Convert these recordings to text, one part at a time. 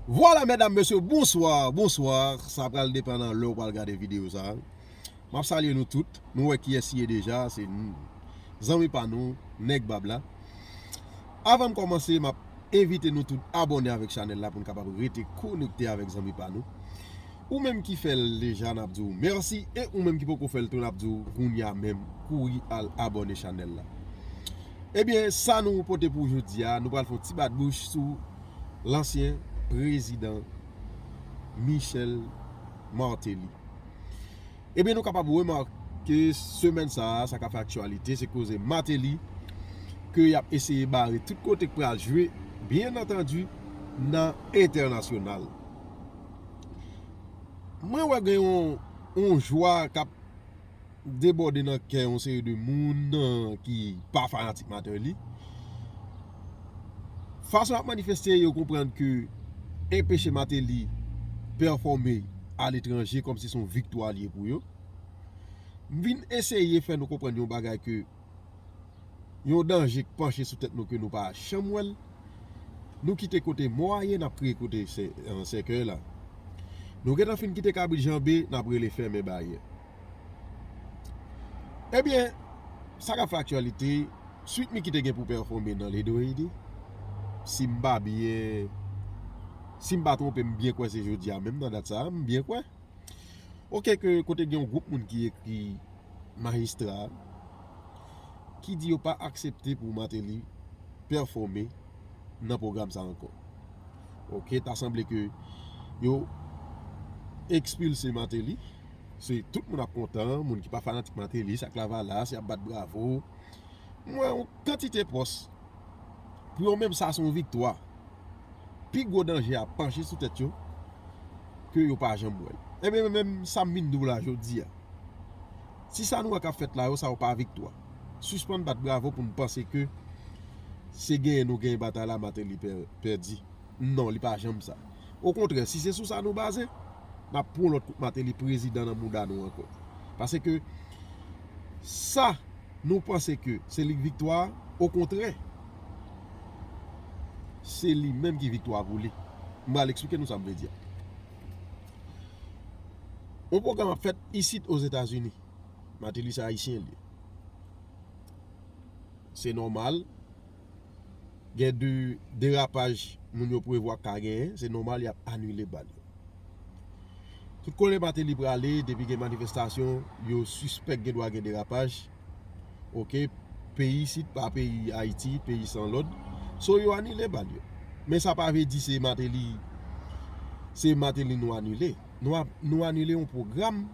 Vwala medam mesye bonswa bonswa sa pral depan nan lèw pral gade video sa map salye nou tout nou wè kiyès siye deja se zanmi pa nou nèg bab la avanm kòmanse map envite nou tout abòne avèk chanèl la poun kapab rete konekte avèk zanmi pa nou. Ou menm ki fèl deja nap diw merci e ou menm ki poko fèl tou nap diw kounya menm kouri al abone chanèl la Ebyen sa nou pote pou jodia nou pral fon ti bat bouch sou lansyen prezidan Michel Martelly Ebyen nou kapab remake ke semèn sa a sa ka fè aktyalite se koze Martelly ke yap eseye bare tout kote k pral jwe byen antandi nan entènasyonal. Mwen wè gen yon jwa kap debòde nan kè yon seri de moun ki pa fanatik Martelly. Fason yap manifeste yo konprann ke enpeche Martelly pèfòme a letranje kòm si son viktwa li pou yo. M vin eseye fè nou konprann yon bagay ke. Yon danje k panche sou tèt nou ke nou pa janm wè l. Nou kite kote mò a ye n ap kriye kote sèkèy la. Nou gentan fin kite kabrit janbe n ap rele fèmen baryè. Ebyen, sa k ap fè aktyalite, Sweet Micky te gen pou pèfome nan Le Dohede, si m pa byen, si m pa twonpe m byen kwè se jodi a menm nan dat sa a, m byen kwè. Ok ke kote gen yon gwoup moun ki ekri majistra, ki di yo pa aksepte pou Martelly pèfome nan pwogram sa ankò. Ok, ta sanble ke yo ekspilse Martelly, se tout moun ap kontan, moun ki pa fanatik Martelly, sak lavalas, yap bat bravo. M wè yon kantite pòs, pou yo menm sa se yon viktwa. Pi gwo danje a panche sou tèt yo, ke yo pa janm wè l. Ebyen menm sa m vin di w la jodi a. Si sa nou wè kap fèt la yo sa yo pa viktwa. Sispann bat bravo pou nou panse ke se genyen nou genyen batay la Martelly pèdi. Non li pa janm sa. Okontrè si se sou sa nou baze, nap pwan lòt kout Martelly prezidan nan mouda nou ankò. Pase ke sa nou panse ke se lik viktwa a, okontrè se li menm ki viktwa pou li. M pral eksplike nou sa m vle di a. Yon pwogram ap fèt isit Ozetazini. Mateli se Ayisyen l ye. Se nòmal. Gen de derapaj moun yo prevwa ka genyen. Se nòmal y ap anile bal yo. Tout kote Mateli prale depi gen manifestasyon yo sispèk gen dwa gen derapaj. ok peyi isit pa peyi ayiti peyi san lòd so yo anile bal yo men sa pa vle di se mateli se mateli nou anile nou anile yon pwogram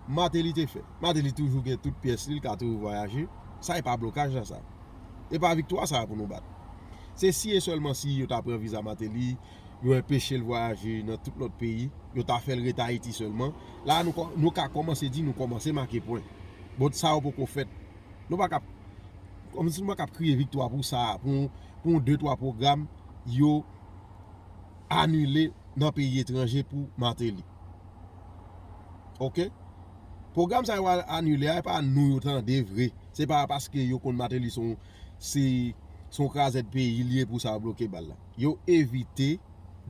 mateli te fè mateli toujou gen tout pyès li l ka toujou vwayaje sa e pa blokaj nan sa e pa viktwa sa pou nou bat se si e sèlman si yo ta pran viza mateli yo enpeche l vwayaje nan tout lòt peyi, yo ta fè l ret Ayiti sèlman. La a nou ka kòmanse di nou kòmanse make pwen. Bon, sa yo poko fèt. Nou pa ka ap, kòmsi nou pa ka ap kriye viktwa pou sa a, pou yon de twa pwogram yo anile nan peyi etranje pou Martelly. Ok? Pwogram sa yo anile a, e pa nou yo tande vre. Se pa paske yo konn Martelly se yon krazèd peyi li e pou sa yo bloke bal la. yo evite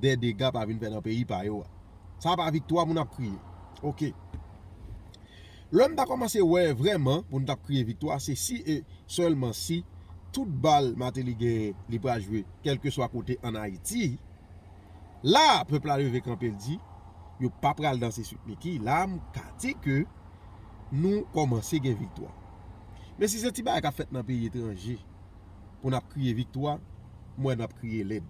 dè dega pa vin fè nan peyi pa yo a. Sa pa viktwa pou n ap kriye. Ok. Lè m ta kòmanse wè vrèman pou n t ap kriye viktwa se si e sèlman si tout bal Mateli genyen li pral jwe kèlkeswa kote an Ayiti. La a pèp la leve kanpe l di yo pa pral danse Sweet Micky. La a m ka di ke nou kòmanse gen viktwa. Men si se ti bagay k ap fèt nan peyi etranje. pou nap kriye viktwa m wè nap kriye lèd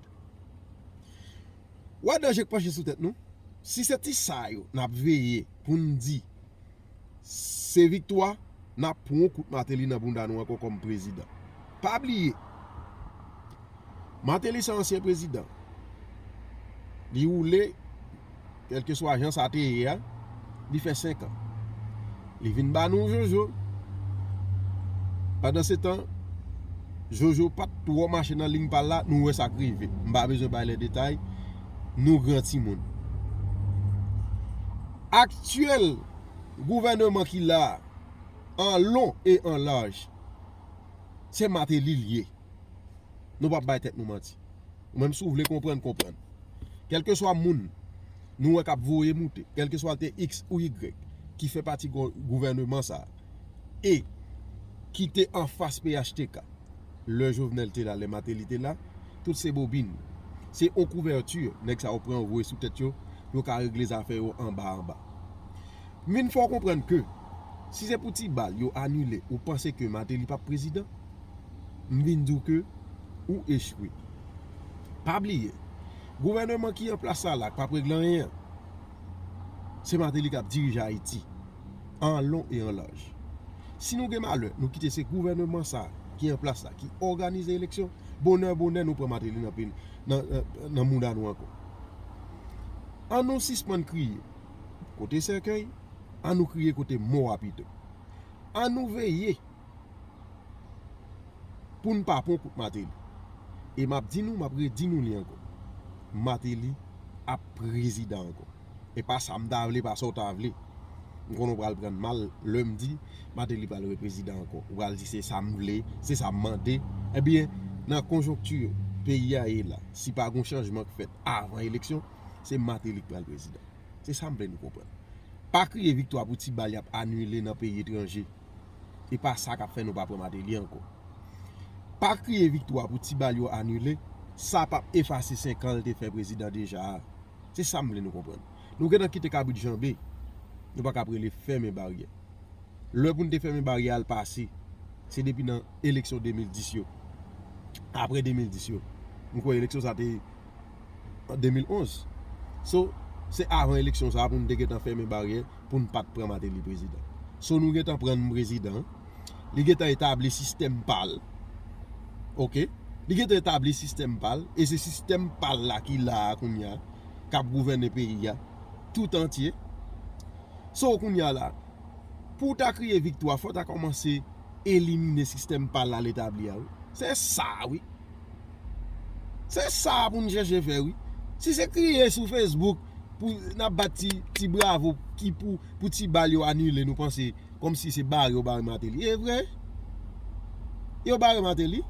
wè danje k panche sou tèt nou si se ti sa yo nap veye pou n di se viktwa nap pran yon kout mateli nan bounda nou ankò kòm prezidan pa bliye mateli se ansyen prezidan li woule kèlkeswa jan sa te ye a, li fè senkan. Li vin ba nou Jojo. Pandansetan, Jojo pa t twò mache nan liy pa l la, nou wè sa k rive. M pa bezwen bay lè detay, nou gran timoun. Aktyèl gouvèneman ki la a, an lon e an laj, se Mateli l ye. Nou pap bay tèt nou manti. Ou menm si w vle konprann, konprann. Kèlkeswa moun nou wè k ap voye moute, kèlkeswa l te iks ou igrèk ki fè pati gouvèneman sa a e ki te anfas phtk lè Jovenel te la, lè Mateli te la, tout se bobin. Se yon kouvèti nèg sa yo pran voye sou tèt yo pou yo ka regle zafè yo anba anba. M vin fè w konprann ke si se pou ti bal yo anile, ou panse ke Mateli pap prezidan? m vin di w ke ou echwe. Pa bliye, gouvèneman ki an plas la la k pap regle anyen an, se Mateli k ap dirije Ayiti an lon e an laj. Si nou gen malè nou kite se gouvèneman sa ki an plas la ki òganize eleksyon, bonè bonè nou pran Mateli nan mouda nou ankò. An nou sispann kriye kote sèkèy, an nou kriye kote mò a pito. An nou veye! Poun pa pwan kout mateli. E map di nou map redi nou li anko. Mateli ap prezidan anko. E pa sa m ta vle pa sa w ta vle. M konnen w pral prann mal lèm di mateli pral re prezidan anko. Ou pral di se sa m vle, se sa m mande. E byen nan konjonkti peyi a ye la. Si pa gon chanjman k fèt avan eleksyon. Se mateli k pral prezidan. Se sa m vle nou konprann. Pa kriye viktwa pou ti bal yap anile nan peyi etranje. e pa sa kap fè nou pa pran Martelly ankò. Pa kriye viktwa pou ti bal yo anile, sa pap efase 5 an l te fè prezidan deja a. Se sa m vle nou konprann. Nou gentan kite kabrit janbe, nou pa ka ap rele fèmen baryè. Lè pou n te fèmen baryè a l pase. Se depi nan eleksyon 2010 yo. Aprè 2010 yo. M kwè eleksyon sa te. an 2011 so se avan eleksyon sa pou nou te gentan fèmen baryè pou nou pat pran Mateli prezidan so nou gentan pran nou prezidan li gentan etabli sistèm pal ok li gentan etabli sistèm pal e se sistèm pal la ki la a kounya kap gouvène peyi a tout antye so kounya la pou ta kriye viktwa fò ta kòmanse elimine sistèm pa lal etabli a wi se sa wi se sa pou nou chèche fè wi si se kriye sou facebook pou nap bat ti bravo ki pou pou ti bal yo anile nou panse kòm si se bare yo bare mateli e vre yo bare mateli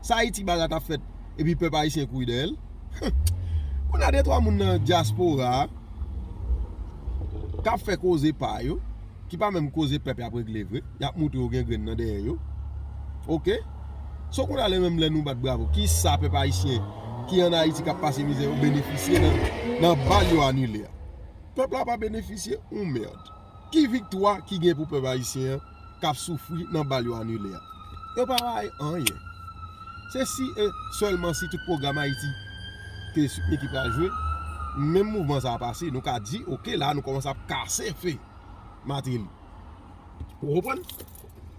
sa ayiti barat ap fèt epi pèp ayisyen kouri dèyèl humm konn a de twa moun nan diaspora kap fè koze pa yo. ki pa menm koze pèp yap regle vre yap moutre yo gen grenn nan dèyè yo ok so kounye a lè menm lè nou bat bravo kisa pèp ayisyen ki an ayiti kap pase mizè yo benefisye nan bal yo anile a pèp la pa benefisye yon merd ki viktwa ki gen pou pèp ayisyen kap soufri nan bal yo anile a. Yo pa bay anyen. Se si e sèlman si tout pwogram Ayiti ke Sipni ki pral jwe, menm mouvman sa a pase, nou ka di ok la a nou kòmanse ap kase fè Martelly. Ou konprann?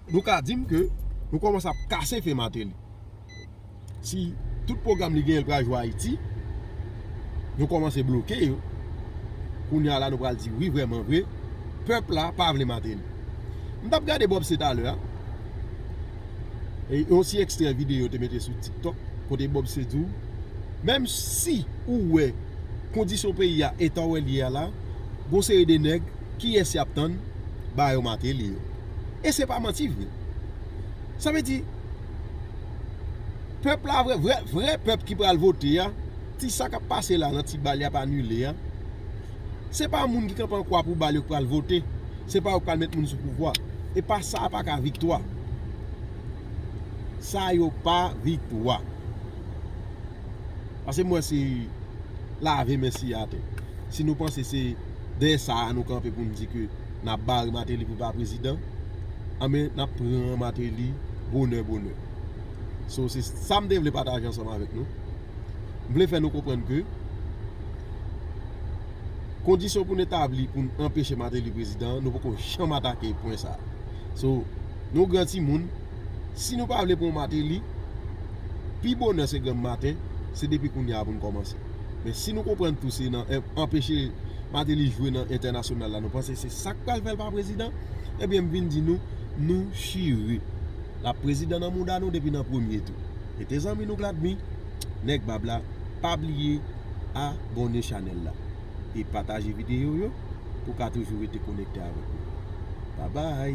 Nou ka di m ke nou kòmanse ap kase fè Martelly. si tout pwogram li genyen pral jwe Ayiti, nou kòmanse bloke yo, kounye a la nou pral di wi vrèman vre, pèp la pa vle Martelly. M tap gade Bob se talè a, yon ti ekstrè videyo yo te mete sou TikTok, kote Bob se di w, menm si ou wè kondisyon peyi a, eta wè l ye a la, gon seri de nèg, kiyès y ap tann, ba yo Martelly yo. E se pa manti vre. Sa vle di. Pèp la vrè vrè vrè pèp ki pral vote a ti sa kap pase la nan ti bal yap anile a se pa moun ki kanpe an kwa pou bal yo ki pral vote se pa yo ki pral met moun sou pouvwa e pa sa a pa ka viktwa sa yo pa viktwa. Pase m wè se lave men siye atè. Si nou panse se dèyè sa a nou kanpe pou nou di ke n ap bare Mateli pou l pa prezidan, anben n ap pran Mateli bonè bonè. So se sa m te vle pataje ansanm avèk nou. M vle fè nou konprann ke kondisyon pou n etabli pou n anpeche Mateli prezidan, nou poko janm atake pwen sa a. So nou gran timoun. si nou pa vle pran Martelly pi bonè se granm maten se depi kounya pou nou kòmanse men si nou konprann tou se nan anpeche Martelly jwe nan entènasyonal la nou panse se sak pral fèl pa prezidan ebyen m vin di nou nou chire lap prezidan nan mouda nou depi nan premye tou mete zanmi nou k la dmi nèg bab la pa bliye abòne chanèl la. e pataje video yo pou w ka toujou rete konekte avèk nou. Babay!